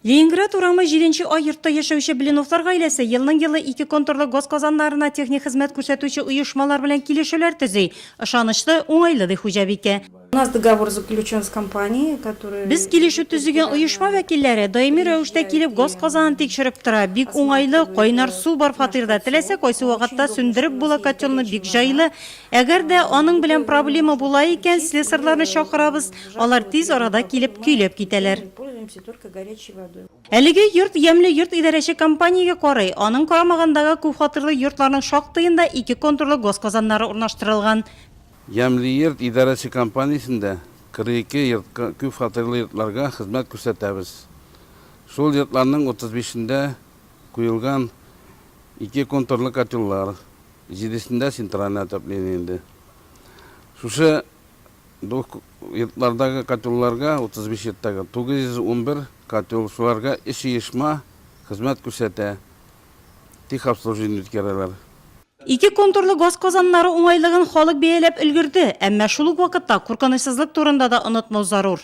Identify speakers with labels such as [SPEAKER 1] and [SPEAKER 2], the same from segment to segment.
[SPEAKER 1] Ленинград урамы җиденче А йортта яшәүче Блиновлар гаиләсе елның-елы ике контурлы газ казаннарына техник хезмәт күрсәтүче оешмалар белән килешүләр төзи. Ышанычлы, уңайлы, ди хуҗабикә. У нас договор
[SPEAKER 2] заключен с компанией, которая. Без килешү төзегән
[SPEAKER 1] оешма вәкилләре даими рәвештә килеп газ казанын тикшереп тора. Бик уңайлы, кайнар су бар фатирда, теләсә кайсы вакытта сүндереп була котелны бик җайлы. Әгәр дә аның белән проблема була икән, слесарьларны чакырабыз. Алар тиз арада килеп көйләп китәләр.
[SPEAKER 2] Әлеге йорт Ямьле
[SPEAKER 1] йорт идарәче компаниягә карый. Аның карамагындагы күпфатирлы йортларның шактыенда ике контурлы газ казаннары урнаштырылган. Ямьле
[SPEAKER 3] йорт идарәче компаниясендә 42 йортка, күпфатирлы йортларга хезмәт күрсәтәбез. Шул йортларның 35-ендә куелган ике контурлы котеллар, җидесендә центральное отопление инде. Шушы. Бу йортлардагы котелларга, 35 йорттагы, 911 котел, шуларга өч оешма хезмәт күрсәтә, техобслуживание үткәрәләр. Ике
[SPEAKER 1] контурлы газ казаннары уңайлыгын халык бәяләп өлгерде, әмма шул ук вакытта куркынычсызлык турында да онытмау зарур.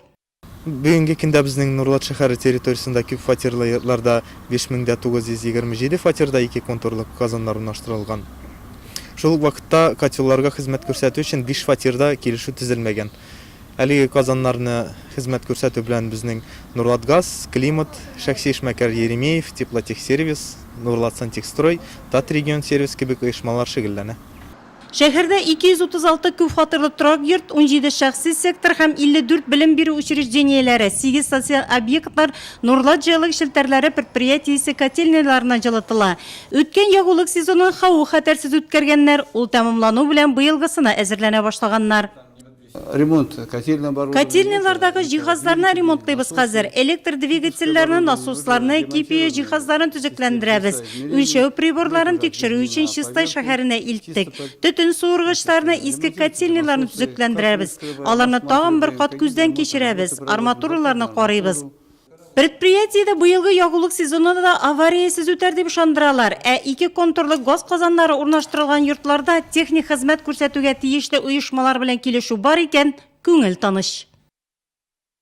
[SPEAKER 1] Бүгенге
[SPEAKER 4] көндә безнең Нурлат шәһәре территориясендә күп фатирлы йортларда 5927 фатирда ике контурлы казаннар урнаштырылган. Шул ук вакытта котелларга хезмәт күрсәтү өчен биш фатирда килешү төзелмәгән. Әлеге казаннарны хезмәт күрсәтү белән безнең Нурлатгаз, Климат, шәхси эшмәкәр Еремеев, Теплотехсервис, Нурлатсантехстрой, Татрегионсервис кебек оешмалар шөгыльләнә.
[SPEAKER 1] Шәһәрдә 236 күпфатирлы торак йорт, 17 шәхси сектор һәм 54 белем бирү учреждениеләре, сигез социаль объектлар Нурлат җылылык челтәрләре предприятиесе котельныйларыннан җылытыла. Үткән ягулык сезонын хаву-хәтәрсез үткәргәннәр, ул тәмамлану белән быелгысына әзерләнә башлаганнар. Ремонт
[SPEAKER 5] котельный бар.
[SPEAKER 1] Котельныйлардагы җиһазларны ремонтлыйбыз хәзер. Электр двигательләрне, насосларны, кипию җиһазларын төзекләндерәбез. Үлчәү приборларын тикшерү өчен Чистай шәһәренә илттек. Төтен суыргычларны, иске котельныйларны төзекләндерәбез. Аларны тагын бер кат күздән кичерәбез, арматураларны карыйбыз. Предприятиедә быелгы ягулык сезоны да авариясез үтәр дип ышандыралар. Ә ике контурлы газ казаннары урнаштырылган йортларда техник хезмәт күрсәтүгә тиешле оешмалар белән килешү бар икән, күңел тыныч.